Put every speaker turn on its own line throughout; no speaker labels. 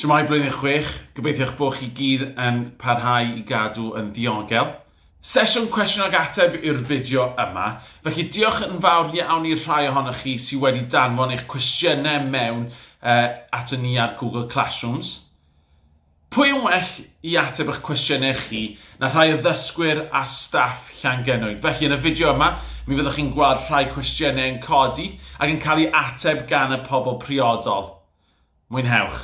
Siwmai blwyddyn chwech, gobeithio'ch bod chi gyd yn parhau i gadw yn ddiogel. Sesiwn cwestiwn ag ateb yw'r fideo yma, felly diolch yn fawr iawn i'r rhai ohonoch chi sydd wedi danfon eich cwestiynau mewn uh, at y ni ar Google Classrooms. Pwy yn well i ateb eich cwestiynau chi na rhai o ddysgwyr a staff Llangennwyd. Felly, yn y fideo yma, mi fyddwch chi'n gweld rhai cwestiynau yn codi ac yn cael eu ateb gan y pobl priodol. Mwynhewch!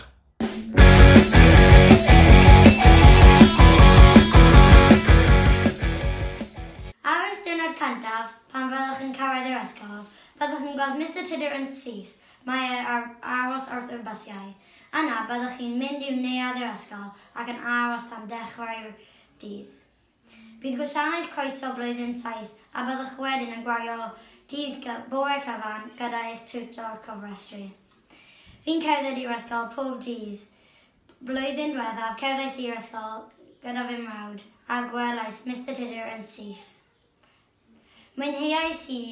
Ar eich diwrnod cyntaf, pan fyddwch chi'n cyrraedd yr ysgol, byddwch chi'n gweld Mister Tudor yn syth, mae e ar aros wrth yr bysiau. Yna, byddwch chi'n mynd i'w neuadd yr ysgol ac yn aros tan dechrau'r dydd. Bydd gwasanaeth croeso blwyddyn saith a byddwch wedyn yn gwario dydd bore cyfan gyda eich tiwtor cofrestru. Fi'n cerdded i'r ysgol pob dydd. Blwyddyn dwethaf, cerddais i'r ysgol gyda fy mrawd a gwelais Mister Tudur yn syth. Mwynheais i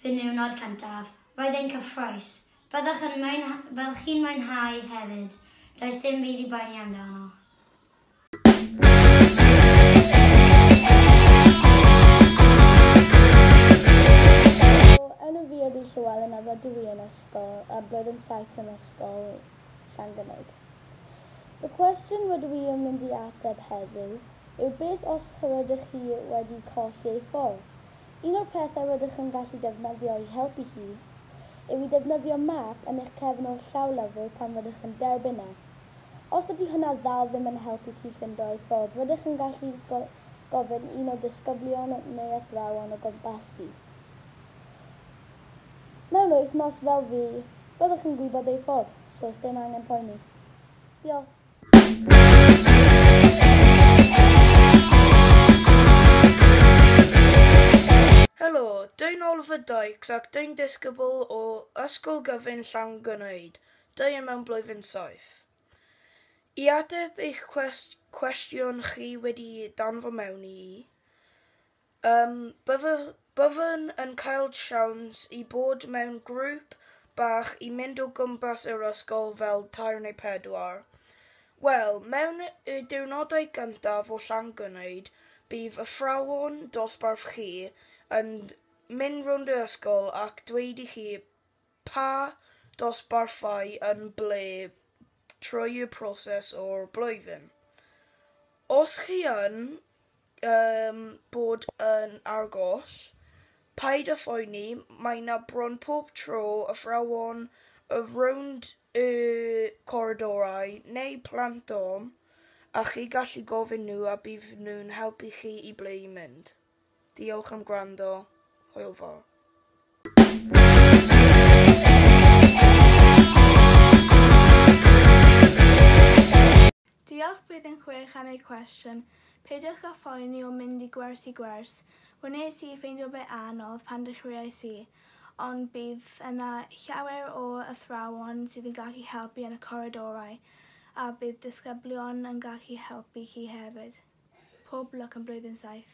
fy niwrnod cyntaf, roedd e'n cyffrous. Byddwch yn mwynhau, fel chi'n mwynhau hefyd, does dim byd i boeni amdano.
Enw fi ydi Llewelyn a rydw i yn ysgol, roedd yn saith yn ysgol. Llangymaint. Y cwestiwn rydw i yn mynd i ateb heddiw yw beth os rydych chi wedi colli ei ffordd? Un o'r pethau rydych yn gallu defnyddio i helpu chi yw i defnyddio map yn eich cefn o'r llawlyfr pan rydych yn derbyn e. Os dydy hwnna ddal ddim yn helpu ti ffindo ei ffordd rydych yn gallu gofyn i un o ddisgyblion neu athrawon o gwmpasu Mewn wythnos fel fi, byddwch yn gwybod ei ffordd, so sdim angen poeni. Diolch.
Helo, dyn ôl fy dykes ac dyn disgybl o Ysgol Gyfun Llangynnaid, dyn mewn blwyddyn saith. I ateb eich cwestiwn chi wedi danfon mewn i, Yym, bydde- byddwn yn cael siawns i bod mewn grŵp bach i mynd o gwmpas yr ysgol fel tair neu pedwar. Wel, mewn y diwrnodau gyntaf o Llangwneud, bydd athrawon dosbarth chi yn mynd rownd yr ysgol ac dweud i chi Pa dosbarthau yn ble trwy y proses o'r blwyddyn? Os chi yn yym bod yn argoll, paid â phoeni, mae 'na bron pob tro athrawon o rownd y coridorau neu plant ofn a chi gallu gofyn nhw a bydd nhw'n helpu chi i ble i mynd. Diolch am gwrando. Hwyl fawr.
Diolch Blwyddyn Chwech am eu cwestiwn. Peidiwch â phoeni o mynd i gwers i gwers. Wnes i ffeindio fe anodd pan dechreuais i, ond bydd yna llawer o athrawon sydd yn gallu helpu yn y coridorau a bydd disgyblion yn gallu helpu chi hefyd. Pob lwc yn blwyddyn saith.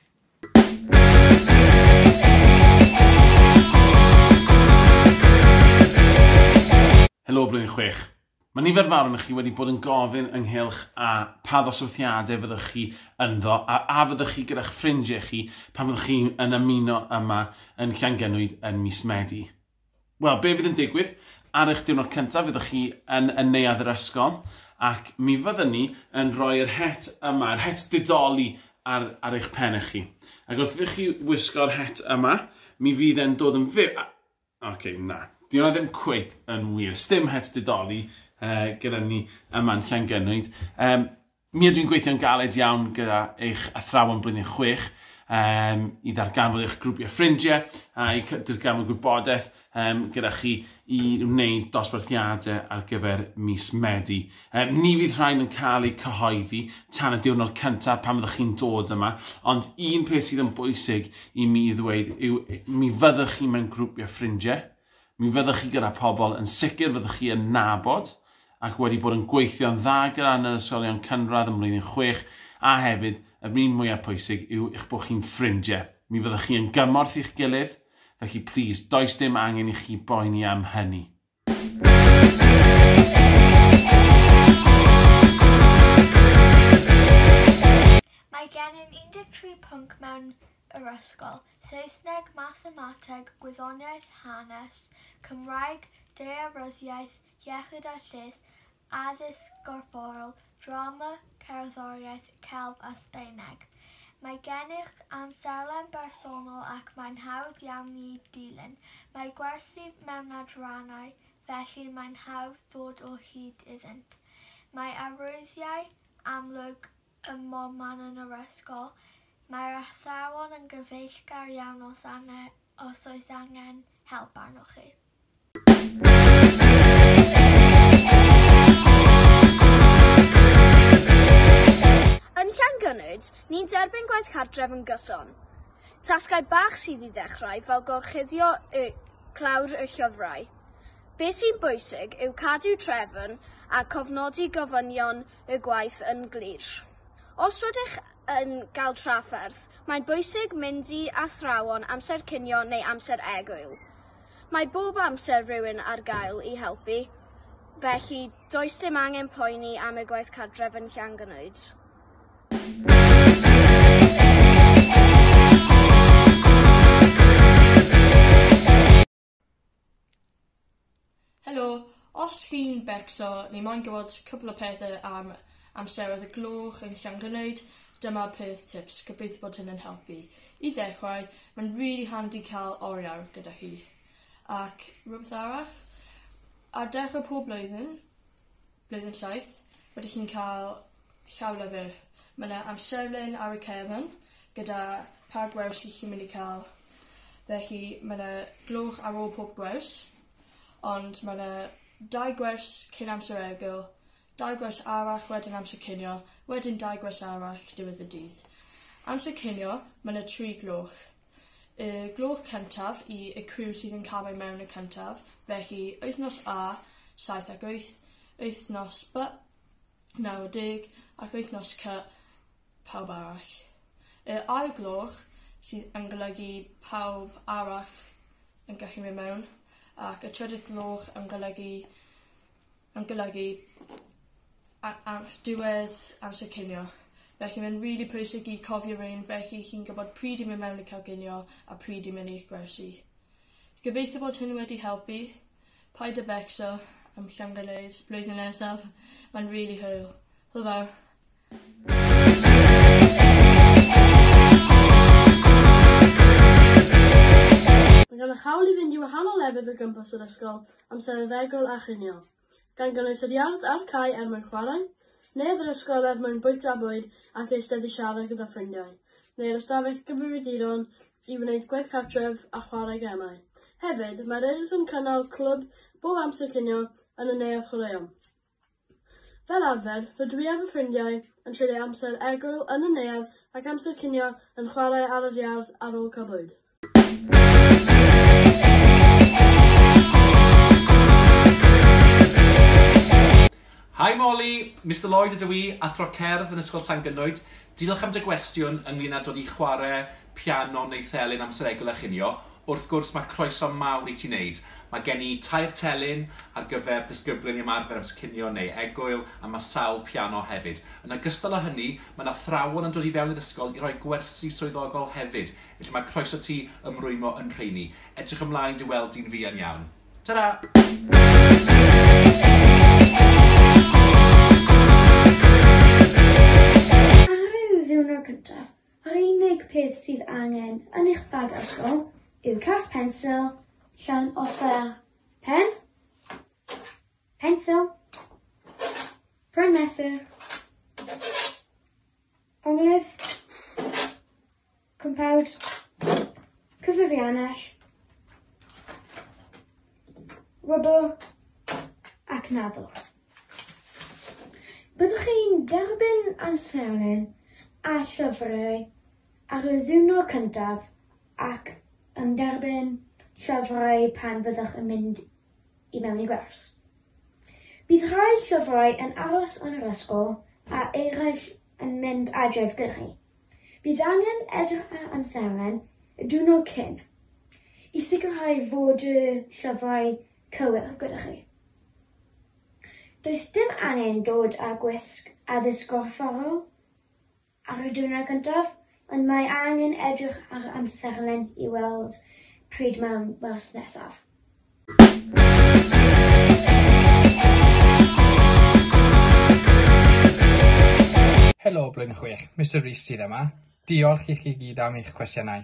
Helo blwyddyn chwech. Mae nifer fawr yn chi wedi bod yn gofyn ynghylch a pa ddoswrthiadau fyddwch chi ynddo a a fyddwch chi gyda'ch ffrindiau chi pan fyddwch chi yn ymuno yma yn Llangenwyd yn mis Medi. Wel, be fydd yn digwydd? Ar eich diwrnod cyntaf, fyddwch chi yn yn neuadd yr ysgol, ac mi fyddwn ni yn rhoi yr het yma, yr het didoli ar, ar eich pennau chi. Ac wrth i chi wisgo'r het yma, mi fydd e'n dod yn fyw... Oce, okay, na. Di hwnna ddim cweit yn wir. Stim het didoli uh, gyda ni yma'n Llangynwyd. Um, Mi ydw i'n gweithio'n galed iawn gyda eich athrawon blwyddyn chwech um, i ddarganfod eich grwpiau ffrindiau a i ddarganfod gwybodaeth um, gyda chi i wneud dosbarthiadau ar gyfer mis Medi. Um, ni fydd rhain yn cael eu cyhoeddi tan y diwrnod cyntaf pan fyddwch chi'n dod yma, ond un peth sydd yn bwysig i mi ddweud yw mi fyddwch chi mewn grwpiau ffrindiau, Mi fyddwch chi gyda pobl yn sicr fyddwch chi yn nabod ac wedi bod yn gweithio'n dda gyda yn yr ysgolion cynradd ym mlwyddyn chwech a hefyd yr un mwyaf pwysig yw eich bod chi'n ffrindiau. Mi fyddwch chi yn gymorth i'ch gilydd, felly plîs, does dim angen i chi boeni am hynny.
Mae gennym 13 pwnc mewn yr ysgol, Saesneg, Mathemateg, Gwyddoniaeth, Hanes, Cymraeg, Daearyddiaeth, Iechyd a Lles, Addysg Gorfforol, Drama, Cerddoriaeth, Celf a Sbaeneg. Mae gennych amserlen bersonol ac mae'n hawdd iawn i ddilyn. Mae gwersi mewn adrannau, felly mae'n hawdd dod o hyd iddynt. Mae arwyddiau amlwg Ym mhob man yn yr ysgol, mae'r athrawon yn gyfeillgar iawn os angen, os oes angen help arnoch chi.
Yn Llangynnwd, ni'n derbyn gwaith cartref yn gyson. Tasgau bach sydd i ddechrau, fel gorchuddio y clawr y llyfrau. Be sy'n bwysig yw cadw trefn a cofnodi gofynion y gwaith yn glir. Os rydych yn cael trafferth, mae'n bwysig mynd i athrawon amser cinio neu amser egwyl. Mae bob amser rhywun ar gael i helpu, felly does dim angen poeni am y gwaith cartref yn Llangnwyd.
Helo, os chi'n becso ni moyn gwybod cwpl o pethe am amseroedd y gloch yn Llangranwyd dyma peth tips gobeithio bod hyn yn helpu. I ddechrau mae'n really handi cael oriawr gyda chi. Ac rhywbeth arall ar dechrau pob blwyddyn Blwyddyn saith. Rydych chi'n cael llawlyfr. Mae 'na amserlen ar y cefn gyda pa gwers y'ch chi'n mynd i cael. Felly mae 'na gloch ar ôl pob gwers ond mae 'na dau gwers cyn amser egl, dau gwers arall wedyn amser cinio, wedyn dau gwers arall diwedd y dydd. Amser cinio mae 'na tri gloch. Y gloch cyntaf i y criw sydd yn camu mewn y cyntaf, felly wythnos A, 7 ac 8, wythnos B, 90, ac wythnos C, pawb arall. Y ail gloch sydd yn golygu pawb arall yn gallu mynd mewn, ac y trydydd gloch yn golygu yn golygu a- am diwedd amser cinio. Felly mae'n rili pwysig i cofio rein felly chi'n gwybod pryd i mynd mewn i cael cinio a pryd i mynd i'ch gwersi. Gobeithio bod hyn wedi helpu. Paid â becso am Llangolleys blwyddyn nesaf. Mae'n rili hwyl. Hwyl fawr.
Mae gennych hawl i fynd i wahanol lefydd o gwmpas yr ysgol am sereddegol a chinio, gan gynnwys yr iard a'r cae er mwyn chwarae, neu'r ysgol er mwyn bwyta bwyd ac eistedd i siarad gyda ffrindiau, neu'r ystafell gyfrifiaduron i wneud gwaith cartref a chwarae gemau. Hefyd, mae'r Urdd yn cynnal clwb bob amser cinio yn y Neuadd Chwaraeon. Fel arfer, rydw i a fy ffrindiau yn treulio amser egwyl yn y neuadd ac amser cinio yn chwarae ar yr iard ar ôl cael bwyd.
Hi Molly! Mister Lloyd ydw i, Athro Cerdd yn Ysgol Llangynnoed. Diolch am dy gwestiwn ynglŷn â dod i chwarae piano neu thelyn am seregl a chinio, wrth gwrs mae croeso mawr i ti wneud. Mae gen i tair telyn ar gyfer disgyblion i ymarfer am cinio neu egwyl a mae sawl piano hefyd. Yn ogystal â hynny, mae 'na athrawon yn dod i fewn i'r ysgol i roi gwersi swyddogol hefyd, felly mae croeso ti ymrwymo yn rheiny. Edrych ymlaen dy weld di'n fuan iawn. Ta-ra!
Ar y ddiwrnod cyntaf, Yr unig peth sydd angen yn eich bag ysgol yw cas pensil, llawn offer, pen, pensil, pren mesur, onglydd, cwmpawd, cyfrifiannell, rwbl ac naddo. Byddwch chi'n derbyn amserlen a llyfrau ar y ddiwrnod cyntaf ac yn derbyn llyfrau pan fyddwch yn mynd i mewn i gwers. Bydd rhai llyfrau yn aros yn yr ysgol a eraill yn mynd adref gyda chi. Bydd angen edrych ar amserlen y diwrnod cyn i sicrhau fod y llyfrau Cywir, gyda chi. Does dim angen dod â gwisg addysg gorfforol ar y diwrnod gyntaf, ond mae angen edrych ar yr amserlen i weld pryd mae'n wers nesaf.
Helo, Blwyddyn Chwech, Mister Rees sydd yma. Diolch i chi gyd am eich cwestiynau.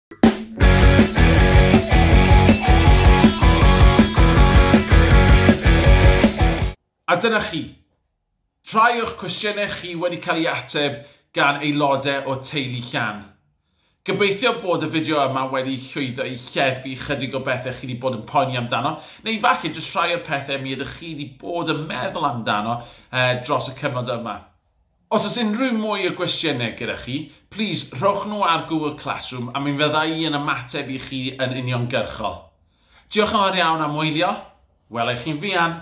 A dyna chi. Rhai o'ch cwestiynau chi wedi cael ei ateb gan aelodau o Teulu Llan. Gobeithio bod y fideo yma wedi llwyddo i lleddfu ychydig o bethau chi wedi bod yn poeni amdano, neu falle jyst rhai o'r pethau mi ydych chi wedi bod yn meddwl amdano dros y cyfnod yma. Os oes unrhyw mwy o gwestiynau gyda chi, plis rhowch nhw ar Google Classroom a mi fydda i yn ymateb i chi yn uniongyrchol. Diolch yn fawr iawn am wylio, wela i chi'n fuan!